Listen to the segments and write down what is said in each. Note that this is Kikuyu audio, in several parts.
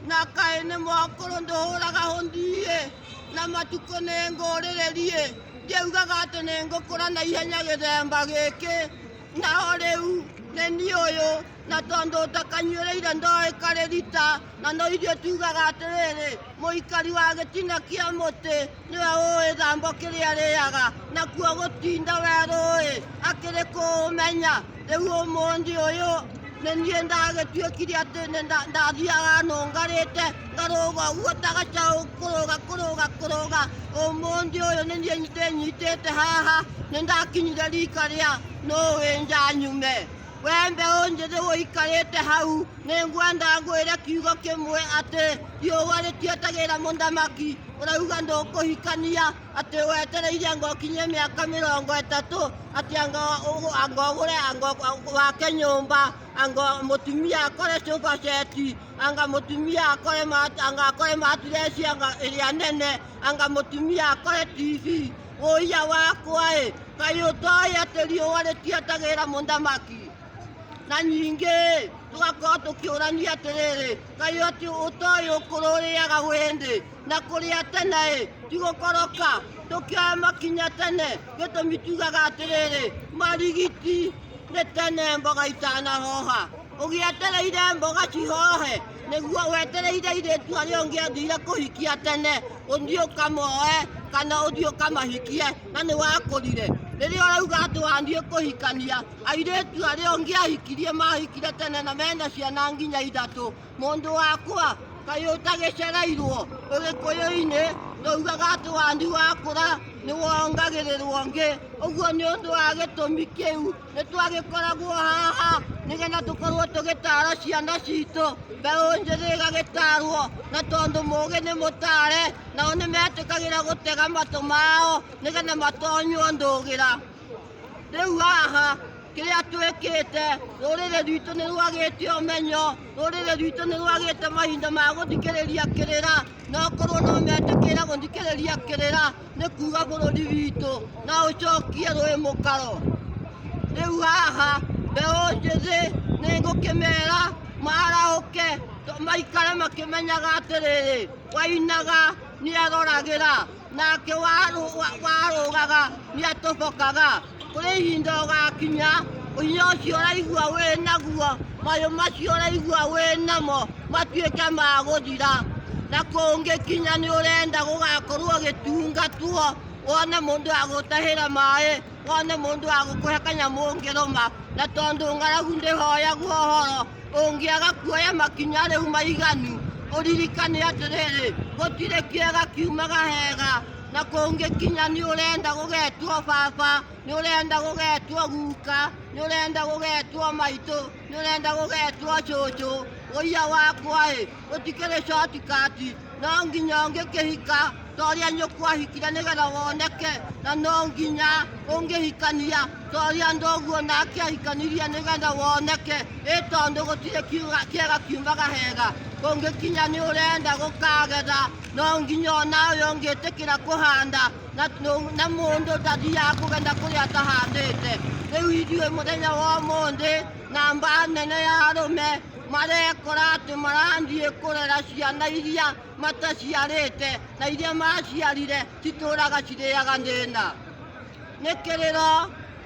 Nakaĩ nĩ mwakũrũ ndũhũraga hũndiĩ na matukũ nĩ ngũrĩrĩriĩ ngĩugaga atĩ nĩ ngũkũra na ihenya gĩthemba gĩkĩ naho rĩu nĩ niĩ ũyũ na tondũ ũtakanyuĩrĩire ndoĩ karĩrita na no ithuĩ tugaga atĩrĩrĩ mũikari wa gĩtina kĩa mũtĩ Nĩwe ũĩ thambo kĩrĩa rĩaga, nakuo gũtinda werũĩ akĩrĩ kũũmenya. Rĩu ũmũthĩ ũyũ nĩ niĩ ndagĩtuĩkire atĩ nĩ nda- ndathiaga nũngarĩte ngarũga ũguo ta gacaũ kũrũga kũrũga kũrũga. Ũmũthĩ ũyũ nĩ niĩ ndĩnyitĩte haha nĩ ndakinyire rika rĩa nũĩ njanyume. We mbeũ njĩthĩ ũikarĩte hau, nĩ ngwenda ngwĩre kiugo kĩmwe atĩ riũa rĩtietagĩrĩra mũthamaki. Ũrauga ndũkũhikania atĩ wetereire ngokinyie mĩaka mĩrongo ĩtatũ atĩ anga ũgũ- anga ũgũre anga ũgũ- wake nyũmba anga mũtumia akore sofa set anga mũtumia akore mat- anga akore matiresi anga ĩrĩa nene anga mũtumia akore tv Ũiya wakwa ĩ, kaĩ ũtoĩ atĩ riũa rĩtietagĩrĩra mũthamaki? Na nyingĩ ĩ, tũgakorwo tũkĩũrania atĩrĩrĩ, kaĩ atĩ ũtoĩ ũkũrũ ũrĩaga wĩndĩ? Na kũrĩa tene ĩ, ti gũkoroka, tũkĩoya makinya tene, gĩtũmi tugaga atĩrĩrĩ, marigiti nĩ tene mboga itanahoha. Ũgĩetereire mboga cihohe, nĩguo wetereire airĩtu arĩa ũngĩendire kũhikia tene ũthiĩ ũkamoe kana ũthiĩ ũkamahikie na nĩ wakũrire rĩrĩa ũrauga atĩ wathiĩ kũhikania airĩtu arĩa ũngĩahikirie mahikire tene na mena ciana nginya ithatũ mũndũ wakwa kaĩ ũtagĩcereirwo ũgĩkũyũ-inĩ ndaugaga atĩ wandi wakũra nĩ wongagĩrĩrwo ngĩ ũguo nĩ ũndũ wa gĩtũmi kĩu nĩ twagĩkoragwo haha nĩgetha tũkorwo tũgĩtara ciana citũ mbeũ njĩthĩ ĩgagĩtarwo na tondũ mũgĩ nĩ mũtare nao nĩ metĩkagĩra gũtega matũ mao nĩgetha matonywo ndũgĩra rĩu haha kĩrĩa twĩkĩte rũrĩrĩ rwitũ nĩ rwagĩte ũmenyo rũrĩrĩ rwitũ nĩ rwagĩte mahinda ma gũthikĩrĩria kĩrĩra no korwo no metĩkĩra gũthikĩrĩria kĩrĩra nĩ kuga bũrũri witũ na ũcokie rwĩ mũkaro rĩu haha mbeũ njĩthĩ nĩ ngũkĩmera marahũke to- maikare makĩmenyaga atĩrĩrĩ wainaga nĩ aroragĩra nake warũ- wa- warũgaga nĩ atũbokaga Kũrĩ ihinda ũgakinya, hinya ũcio ũraigua wĩ naguo, mayũ macio ũraigua wĩ namo matuĩke ma gũthira. Na kũngĩkinya nĩ ũrenda gũgakorwo ũgĩtungatwo, wone mũndũ wa gũtahĩra maĩ, wone mũndũ wa gũkũhe kanyamũ ũngĩrũma. Na tondũ ng'aragu ndĩhoyagwo ũhoro, ũngĩaga kuoya makinya rĩu maiganu, ũririkane atĩrĩrĩ, gũtirĩ kĩega kiumaga hega. na kũngĩkinya nĩ ũrenda gũgetwo baba nĩ ũrenda gũgetwo guka nĩ ũrenda gũgetwo maitũ nĩ ũrenda gũgetwo cũcũ ũiya wakwa ĩ ũtikĩrĩ shortcut no nginya ũngĩkĩhika toria nyũkwahikire nĩgetha woneke na no nginya ũngĩhikania toria ndoguo nake ahikanirie nĩgetha woneke ĩ tondũ gũtirĩ kiuga- kĩega kiumaga hega kũngĩkinya nĩ ũrenda gũkagetha no nginya o nawe ũngĩtĩkĩra kũhanda na, nũ- na mũndũ ndathiaga kũgetha kũrĩa atahandĩte rĩu ithuĩ mũthenya wa ũmũthĩ na mba nene ya arũme marekora atĩ marathiĩ kũrera ciana iria mataciarĩte na iria maciarire citũraga cirĩaga thĩna nĩ kĩrĩro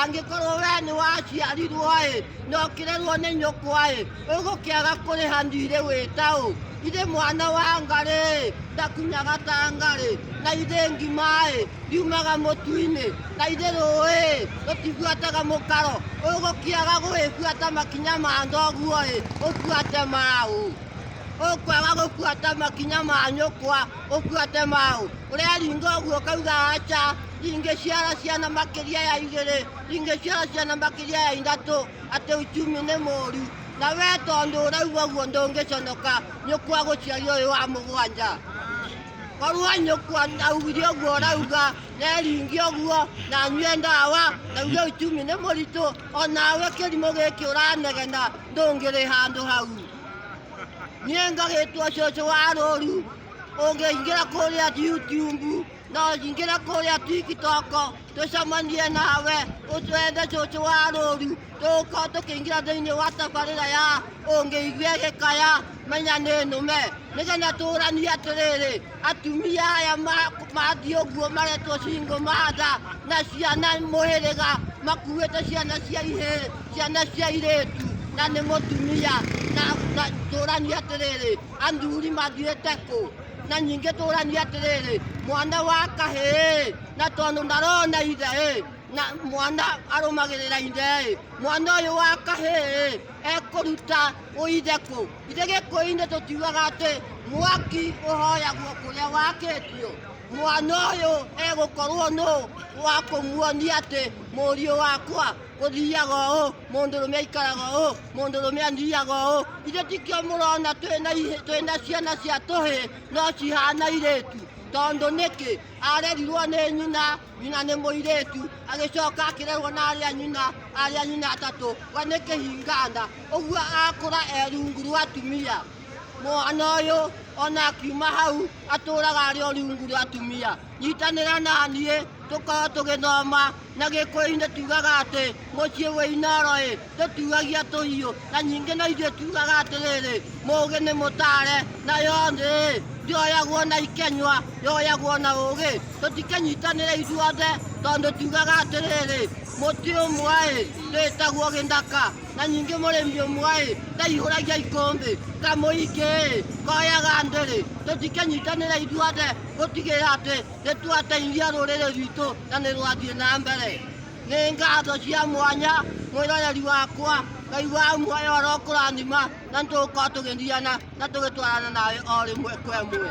angĩkorwo wee nĩ waciarirwo-ĩ, na ũkĩrerwo nĩ nyũkwa-ĩ, ũgũkĩaga kũrĩha thiirĩ wĩ ta ũ? Githĩ mwana wa ngarĩ-ĩ, ndakunyaga ta ngarĩ? Na githĩ ngima-ĩ, ndiumaga mũtu-inĩ? Na githĩ rũũĩ-ĩ, rũtibuataga mũkaro? Ũgũkĩaga gũgĩbuata makinya ma thoguo-ĩ, ũbuate ma ũ? Ũkwaga gũbuata makinya ma nyũkwa, ũbuate ma ũ? Ũreeringwo ũguo ũkauga aca. ingĩciara ciana makĩria ya igĩrĩ ingĩciara ciana makĩria ya ithatũ atĩ uchumi nĩ mũru na we tondũ ũrauga ũguo ndũngĩconoka nyũkwa gũciari ũyũ wa mũgwanja korwo nyũkwa augire ũguo ũrauga neringi ũguo na nyue ndawa na uge uchumi nĩ mũritũ onawe kĩrimũ gĩkĩ ũranegena ndũngĩrĩ handũ hau niĩ ngagĩtwo cũcũ wa rũru ũngĩingĩra kũrĩa YouTube No njingĩre kũrĩa TikTok tũcemanie nawe ũtwethe cũcũ wa rũru tũgũkorwo tũkĩingĩra thĩinĩ wa tabarĩra ya ũngĩigua gĩkaya menya nĩ nũme nĩgetha tũranie atĩrĩrĩ atumia aya ma- mathiĩ ũguo maretwo cingo matha na ciana mũhĩrĩga makuĩte ciana cia ihĩ ciana cia irĩtu na nĩ mũtumia na na tũranie atĩrĩrĩ athuri mathiĩte kũ na nyingĩ tũrania atĩrĩrĩ mwana wa kahĩĩ na tondũ ndarona ithe ĩ na mwana arũmagĩrĩra ithe ĩ mwana ũyũ wa kahĩĩ ekũruta ũithe kũ ithe gĩkũyũ-inĩ tũtiugaga atĩ mwaki ũhoyagwo kũrĩa wakĩtio mwana ũyũ egũkorwo nũ wa kũmuonia atĩ mũriũ wakwa ũthiaga ũũ mũndũrũme aikaraga ũũ mũndũrũme athiaga ũũ ithe tikio mũrona twĩna ihĩ- twĩna ciana cia tũhĩ no cihana irĩtu tondũ nĩkĩ arerirwo nĩ nyina nyina nĩ mũirĩtu agĩcoka akĩrerwo na arĩa nyina arĩa nyina atatũ we nĩ kĩhinganda ũguo akũra erungu rwa atumia mwana ũyũ ona akiuma hau atũraga arĩ o rungu rwa atumia nyitanĩra na niĩ tũkorwo tũgĩthoma na gĩkũyũ-inĩ tugaga atĩ mũciĩ wĩ inoro ĩ tũtuagia tũhiũ na nyingĩ na ithuĩ tugaga atĩrĩrĩ mũgĩ nĩ mũtare na yothĩ ĩ ndĩoyagwo na ikenywa yoyagwo na ũgĩ tũtikenyitanĩre ithuothe tondũ tugaga atĩrĩrĩ mũtĩ ũmwe ĩ ndĩtagwo gĩthaka na nyingĩ mũrĩmi ũmwe ĩ ndaihũragia ikũmbĩ kamũingĩ ĩ koyaga ndĩrĩ tũtikenyitanĩre ithuothe Gũtigĩrĩra atĩ nĩ twateithia rũrĩrĩ rwitũ na nĩ rwathiĩ na mbere. Nĩ ngatho cia mwanya mwĩroreri wakwa, Ngai wa muoyo arokũrathima na nĩ tũgũkorwo tũgĩthiana na tũgĩtwarana nawe o rĩmwe kwa ĩmwe.